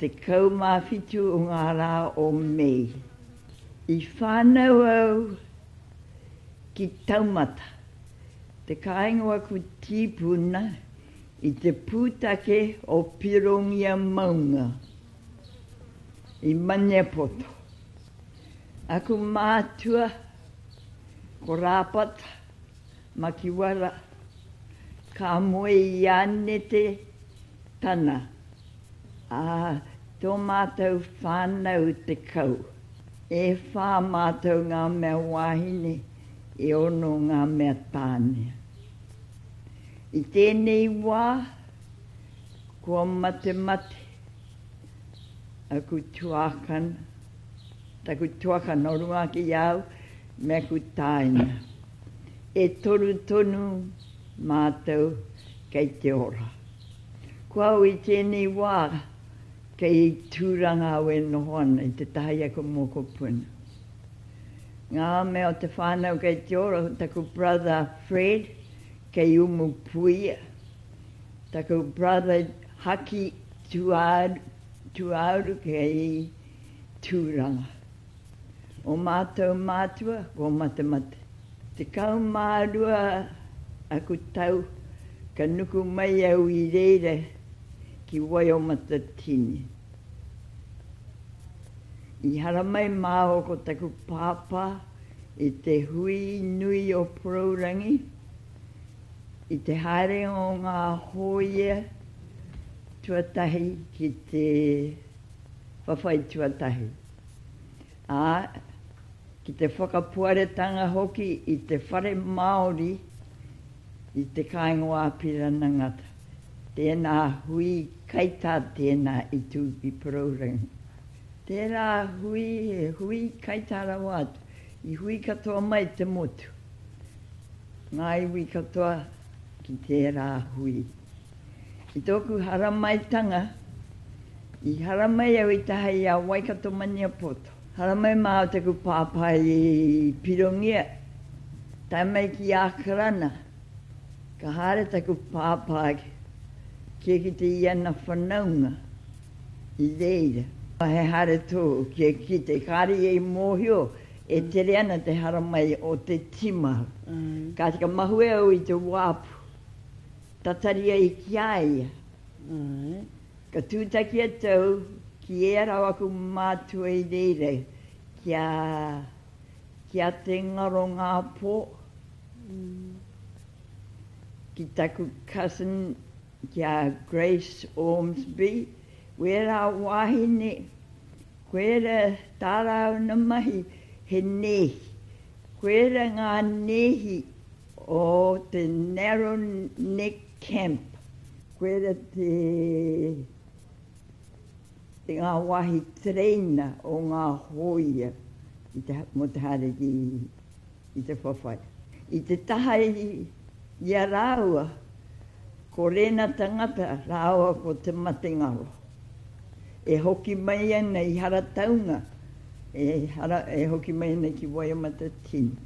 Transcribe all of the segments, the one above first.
Tekau mā whitu o ngā rā o Mei, i whānau au ki Taumata, te kāinga o aku tīpuna i te pūtake o Pirongia maunga, i Maniapoto. Aku mātua ko Rāpata Makiwara, ka moe i Anete Tana, ā, tō mātou whānau tekau. E whā mātou ngā mea wāhine, e ono ngā mea tāne. I tēnei wā, kua matemate aku tuākana, taku tuakana o runga ki au me aku tāina. E toru tonu. Mātou kei te ora. Ko au i tēnei wā kei Tūranga au e noho ana i te taha i a ko mokopuna. Ngā mea o te whānau kei te ora ko taku brother Fred kei Umupuia, taku brother Haki Tuauru kei Tūranga. o mātou mātua ko Matemate. Tekau mā rua aku tau ka nuku mai au i reira ki Waiomatatini. I haramai māua ko taku pāpā i te hui nui o Porourangi, i te haerenga o ngā hōia tuatahi ki te. whawhai tuatahi, ā, ki te whakapuaretanga hoki i te whare Māori i te kāinga o Āpirana Ngata, tēnā hui kaitā tēnā i tū ki Porourangi. Tērā hui, he hui kaitā rawa atu, i hui katoa mai te motu, ngā iwi katoa ki tērā hui. I tōku haramaitanga, i haramai au i te hei a Waikato-Maniapoto. Haramai māu taku pāpā i pirongia, tae mai ki Ākarana. Ka haere taku pāpā kia ki te iana whanaunga i reira. He haere tō kia ki te kāri e mōhio e tere ana te haramai o te tīma. Kāti ka mahue au i te wāpu. tatari ai ki a ia. Ka tūtaki a Tau ki ea rau aku mātua i reira kia, kia te ngaro ngā pō ki taku cousin ki a Grace Ormsby, wērā wāhine, koera tā rāuna mahi he nēhi, koera ngā nēhi. o te Narrow Neck Camp, koira te te ngā wāhi tereina o ngā hōia i te mō te haere ki i te whawhai. I te taha i a rāua ko rēna tangata rāua ko Te Matengaro e hoki mai ana i Harataunga e hoki mai ana ki Waiomatatimu.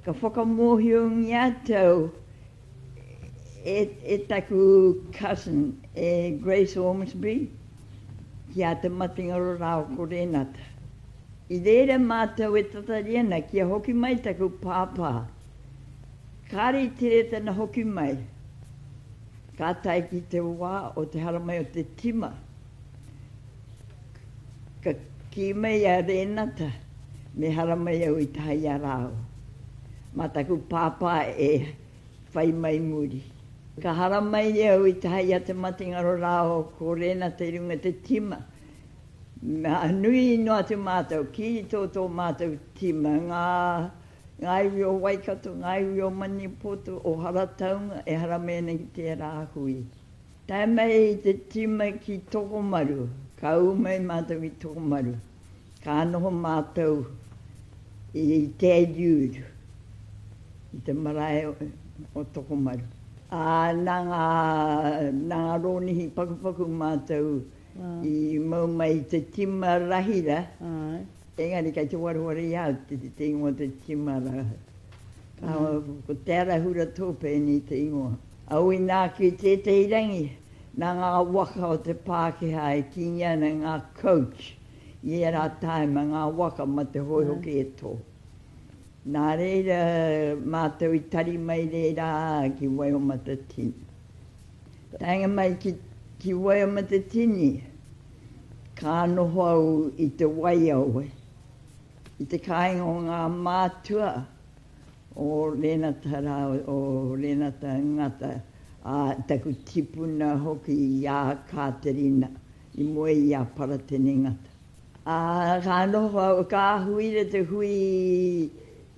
Ka whakamōhiongia tau e, e taku cousin, e Grace Ormsby, ki a Te Matingaro rā o ko Rēnata. I reira mātou e tatari ana kia hoki mai taku pāpā. Kāre i tere tana hoki mai, ka tae ki te wā o te haramai o te tima. Ka kī mai a Rēnata, Me hara mai au i taha i a rāua. Mā taku pāpā e whai mai muri. Ka hara mai au i taha i a Te Matingaro rāua ko Rēnata i runga i te tīma. Me nui noa atu mātou, kī tō tō mātou tīma, ngā, ngā iwi o Waikato, ngā iwi o Maniapoto, o Harataunga, ehara mai ana ki tērā hui. Tae mai i te tīma ki Tokomaru, ka ū mai mātou ki Tokomaru, ka noho mātou i Te Aireuru, i te marae o Tokomaru. Ā, nā ngā, nā ngā rōnihi pakupaku mātou i mau mai i te tīma Rahira, engari kei te wareware i a au te ingoa o te tīma Rahira. Ko Te Arahura Tōpēni te ingoa. Au inaaki i tētehi rangi, nā ngā waka o te Pākehā e kīngi ana e ngā coach i ērā tae me ngā waka ma te hoe hoki e tō. Nā reira mātou i tari mai reira ki Waiomatatini. Taenga mai ki ki Waiomatatini, ka noho au i te wai aue, i te kāinga o ngā mātua o Renata rā, o Renata Ngata, ā, taku tipuna hoki i a Kāterina, i moe i a Paratene Ngata. Ā, ka noho au, ka hui ra te hui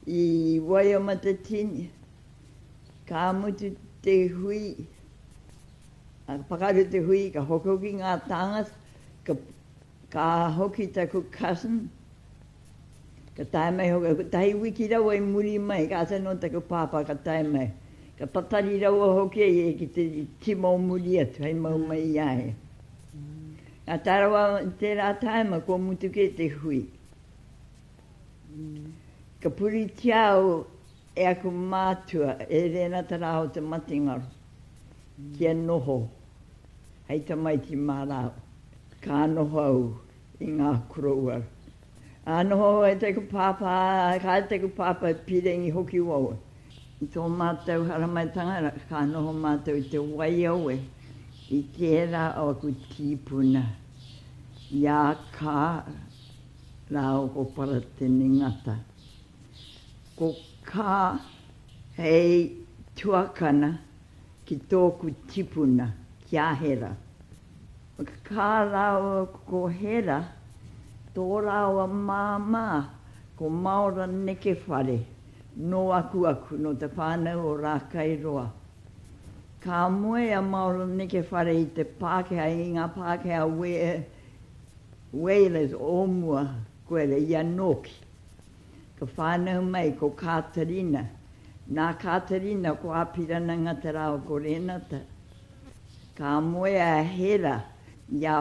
i Waiomatatini, ka mutu te hui, ā, ka pakaru te hui, ka hokihoki ngā tāngata, ka, ka hoki taku cousin, Ka tae mai hoki au kotahi wiki rawa i muri mai, ka ata noa taku pāpā ka tae mai. Ka tatari rawa hoki ai ia ki te tima o muri atu hei mau mai i a ia. Ka tae rawa i tērā tāima kua mutu kē te hui. Ka puritia au e aku mātua, e Rēna Tarāho Te Matingaro, kia noho hei tamaiti mā rāua. Ka noho au i ngā koroua. Ā, noho au e te pāpā, ā, ka te pāpā e pīrangi hoki wau. I tō mātou haramaitanga rā, ka noho mātou i te wai aue, i tērā o aku tīpuna, i Ākā rā o ko Paratene Ngata. Ko Kā hei tuakana ki tōku tipuna, ki Āhera. Kā rāua ko Hera, tō rāua māmā, ko Maora neke whare, nō Akuaku, nō te whānau o Rākairoa. Ka moe a Maora neke whare i te Pākehā, i ngā Pākehā wē, whalers, o mua, koia rei ia nōki. ka whānau mai ko Kāterina. Nā Kāterina ko Āpirana Ngata rāua ko Rēnata. Ka moe a Hera i a,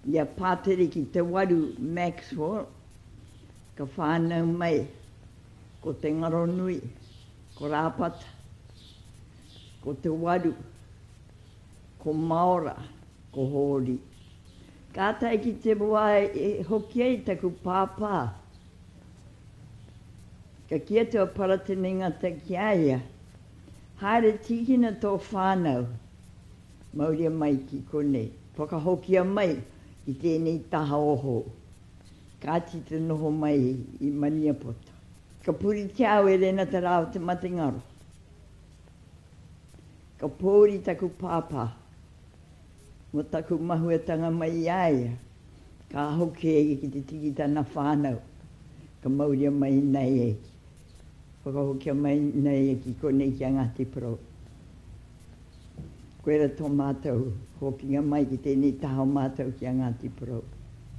i a Pātere ki Te Waru, Maxwell, ka whānau mai ko Te Ngaronui, ko Rāpata, ko Te Waru, ko Maora, ko Hōri. Kātahi ki te wā i hoki ai taku pāpā, ka kī atu a Paratene Ngata ki a ia, Haere tīkina tō whānau, mauria mai ki konei, whakahokia mai ki tēnei taha o hou. Kāti te noho mai i Maniapoto. Ka puritia au e Renata rāua te matenga roa. Ka pōuri taku pāpā mō taku mahuetanga mai i a ia, ka aho kē ia ki te tiki i tana whānau, ka mauria mai i Naia ki, whakahokia mai i Naia ki konei ki a Ngāti Porou. Koira tō mātou hokinga mai ki tēnei taha o mātou ki a Ngāti Porou.